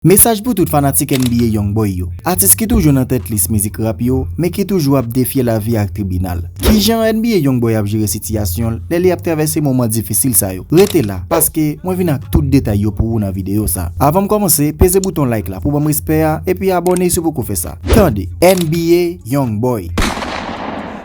Mesaj pou tout fanatik NBA Young Boy yo, atis ki toujou nan tèt lis mizik rap yo men ki toujou ap defye lavi ak tribinal. Kijan NBA Young Boy ap jere sitiyasyon l lè li ap travèse moman difisil sa yo? Rete la, paske mwen vin ak tout detay yo pou ou nan videyo sa. Avan m kòmanse, peze bouton like la pou ban m respè a epi abòne si w poko fè sa. Tande NBA Young Boy!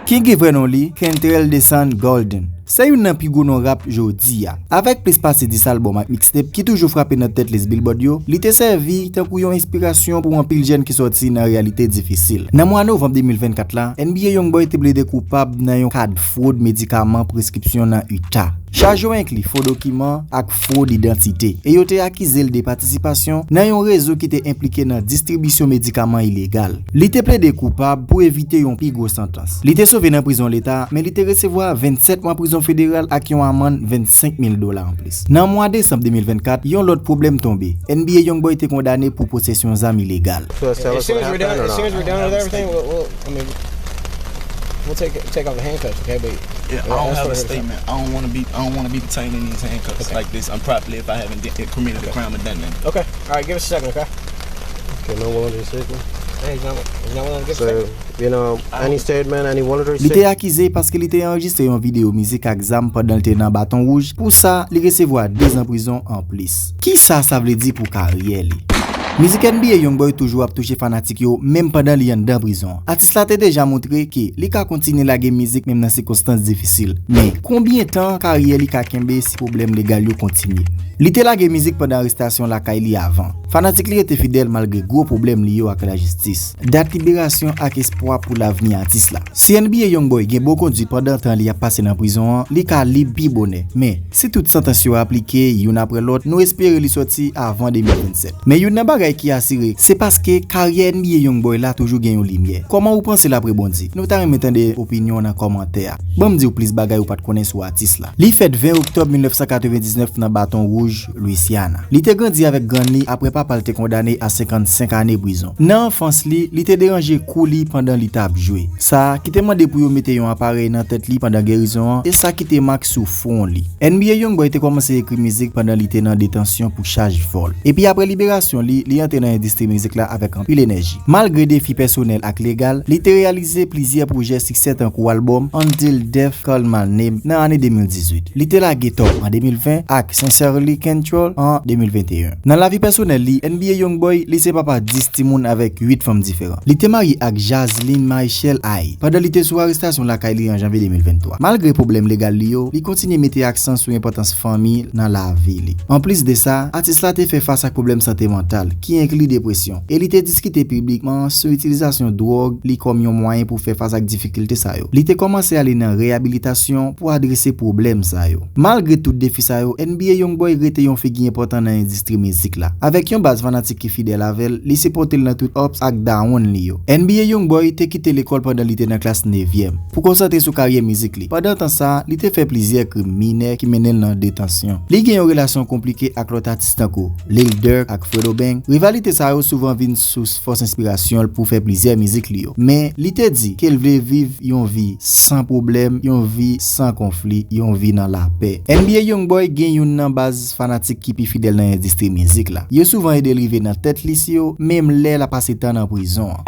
Kiki vrè non li, Kentrell Desan Golden. Se youn nan pi gwo non rap jodi a. Avèk plis pase 10 albòm ak mixtape ki toujou frape nan tèt lis Billboard yo, li te sèvi tankou yon enspirasyon pou anpil jèn ki sòti nan reyalite difisil. Nan mwa novanm 2024 la, NBA Youngboy te plede koupab nan yon ka fwod medikaman preskripsyon nan Utah. Chaj yo enkli fo dokiman ak fwod idantite, e yo te akize l de patisipasyon nan yon rezo ki te enplike nan distribisyon medikaman ilegal. Li te plede koupab pou evite yon pi gwo santans. Li te sove nan prizon leta, men li te resevwa 27 mwa prizon federal ak yon amann 25 mil dola anplis. Nan mwa desanm 2024, yon lòt pwoblèm tonbe, NBA Youngboy te kondane pou posesyon zam ilegal. Li te akize paske li te anrejistre yon videyo mizik ak zam pandan l te nan Baton Rouge, pou sa, li resevwa dezan prizon anplis. Kisa sa vle di pou karyè li? Mizik NBA Youngboy toujou ap touche fanatik yo menm pandan li anndan prizon. Atis la te deja montre ke li ka kontinye lage mizik menm nan sikonstans difisil. Men, konbyen tan karyè li ka kenbe si pwoblèm legal yo kontinye? Li te lage mizik pandan arestasyon lakay li avan. Fanatik li rete fidèl malgre gwo pwoblèm li yo ak lajistis. Dat liberasyon ak espwa pou lavni atis la. Si NBA Youngboy gen bon kondwi pandan tan li ap pase nan prizon an, li ka lib pi bonè. Men, si tout santans yo aplike, youn aprè lòt, nou espere li sòti avan 2027. Men youn nan bagay ki asire, se paske karyè NBA Young Boy la toujou gen yon limyè. Kòman ou panse l ap rebondi? Nou ta renmen tande opinyon w nan kòmantè a. Ban m di w plis bagay ou pa t konnen sou atis la. Li fèt 20 oktòb 1999 nan Baton Wouj, Louisiana. Li te grandi avèk grann li apre papa l te kondane a 55 ane prizon. Nan anfans li, li te deranje kou li pandan li t ap jwe. Sa ki te mande pou yo mete yon aparèy nan tèt li pandan gerizon an, e sa kite mak sou. fwon li. NBA Youngboy te kòmanse ekri mizik pandan li te nan detansyon pou chaj vòl. Epi apre liberasyon li, li antre nan endistri mizik la avèk anpil enèji. Malgre defi pèsonèl ak legal, li te reyalize plizyè pwojè siksè tankou albòm Until Death Call My Name nan ane 2018. Li te lage Top an 2020 ak Sincerely Kentrell an 2021. Nan lavi pèsonèl li, NBA Youngboy, li se papa 10 timoun avèk 8 fanm diferan. Li te marye ak Jazlyn Maechel Aye pandan li te sou arestasyon lakay li an Janvye 2023. Malgre pwoblèm legal li yo, li kontinye mete aksan sou enpòtans fanmi nan lavi li. Anplis de sa, atis la te fè fas ak pwoblèm sante mantal, ki enkli depresyon, e li te diskite piblikman sou itilizasyon dwòg li kòm yon mwayen pou fè fas ak difikilte sa yo. Li te kòmanse ale nan reyabilitasyon pou adrese pwoblèm sa yo. Malgre tout defi sa yo, NBA Youngboy rete yon figi enpòtan nan endistri. Endistri mizik la. Avèk yon baz fanatik ki fidèl avè l, li sipòte l nan tout ups ak down li yo. NBA Youngboy te kite lekòl pandan li te nan klas nevyèm, pou konsantre sou karyè mizik li. Pandan tan sa a, li te fè plizyè krim minè ki mennen l nan detansyon. Li gen yon relasyon konplike ak lòt atis tankou, Lil Durk ak Fredo Bang, rivalite sa yo souvan vin sous fòs enspirasyon l pou fè plizyè mizik li yo. Men, li te di ke l vle viv yon vi san pwoblèm, yon vi san konfli, yon vi nan lapè. NBA Youngboy gen youn nan baz. fanatik ki pi fidèl nan endistri mizik la. Yo souvan ede l rive nan tèt li si yo menm lè l ap pase tan nan prizon an.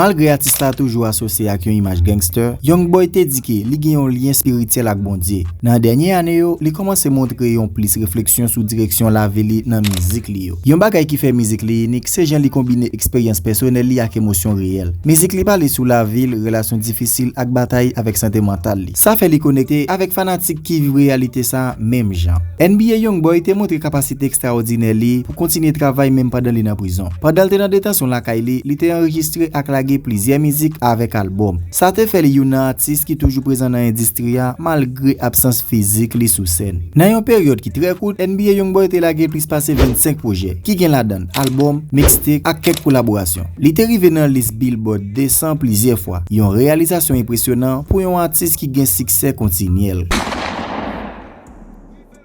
Malgre atis la toujou asosye ak yon imaj gangster, Young Boy te di ke li gen yon lyen espirityèl ak Bondye. Nan dènye ane yo, li kòmanse montre yon plis refleksyon sou direksyon lavi li nan mizik li yo. Yon bagay ki fè mizik li inik, se jan li konbine eksperyans pèsonèl li ak emosyon reyèl. Mizik li pale sou lavi l, relasyon difisil ak batay avèk sante mantal li. Sa fè li konekte avèk fanatik ki viv reyalite sa menm jan. NBA Youngboy te montre kapasite ekstraòdinè li pou kontinye travay menm pandan li nan prizon. Pandan l te nan detansyon lakay li, li te anrejistre ak lage plizyè mizik avèk albòm. Sa te fè li youn nan atis ki toujou prezan nan endistri a malgre absans fizik li sou sèn. Nan yon peryòd ki trè kout, NBA Youngboy te lage plis pase 25 pwojè, ki gen ladan albòm, mixtape ak kèk kolaborasyon. Li te rive nan lis Billboard 200 plizyè fwa, yon reyalizasyon enpresyonan pou yon atis ki gen siksè kontinyèl.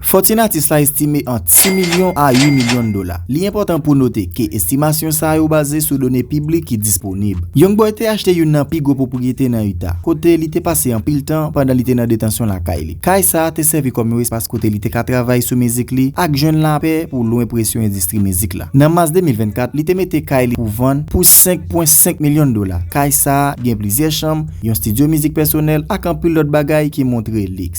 Fòtin atis la estime ant 6 milyon a 8 milyon dola. Li enpòtan pou note ke estimasyon sa yo baze sou done piblik ki disponib. Young Boy te achte youn nan pi gwo pwopriyete nan Utah, kote li te pase anpil tan pandan li te nan detansyon lakay li. Kay sa te sèvi kòm yon espas kote li te ka travay sou mizik li ak jwenn lapè pou lwen presyon endistri mizik la. Nan Mas 2024, li te mete kay li pou vann pou 5.5 milyon dola. Kay sa gen plizyè chanm, yon stidyo mizik pèsonèl, ak anpil lòt bagay ki montre liks.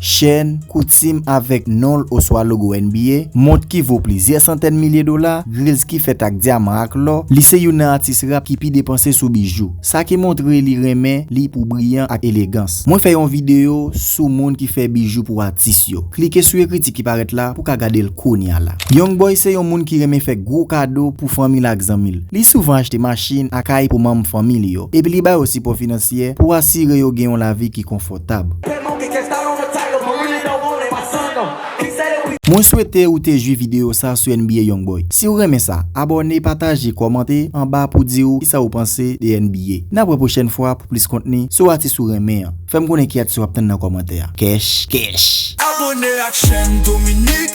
Chen, koutim avèk non l oswa logo NBA, mont ki vo plizyè santèn milye dola, grills ki fèt ak dyaman ak lò, li se youn nan atis rap ki pi depanse sou bijou. Sa ki montre li renmen li pou briyan ak elegans. Mwen fè yon videyo sou moun ki fè bijou pou atis yo. Klike sou ekriti ki parèt la pou ka gade l kounya la. Young Boy se yon moun ki renmen fè gwo kado pou fanmi l ak zanmi l. Li souvan achte machin ak kay pou manm fanmi li yo, epi li ba yo sipò finansyè pou asire yo gen yon lavi ki konfòtab. tab. Mwen swete ou te jwi video sa sou NBA Youngboy. Siw renmen sa, abòne, pataje, kòmante anba pou diw kisa ou panse de NBA. Nap wè pwochèn fwa pou plis kontni sou atis ou renmen an. Fèm konnen ki atis wap tann nan kòmantè a. Kèch kèch! Abone ak chèn Dominique.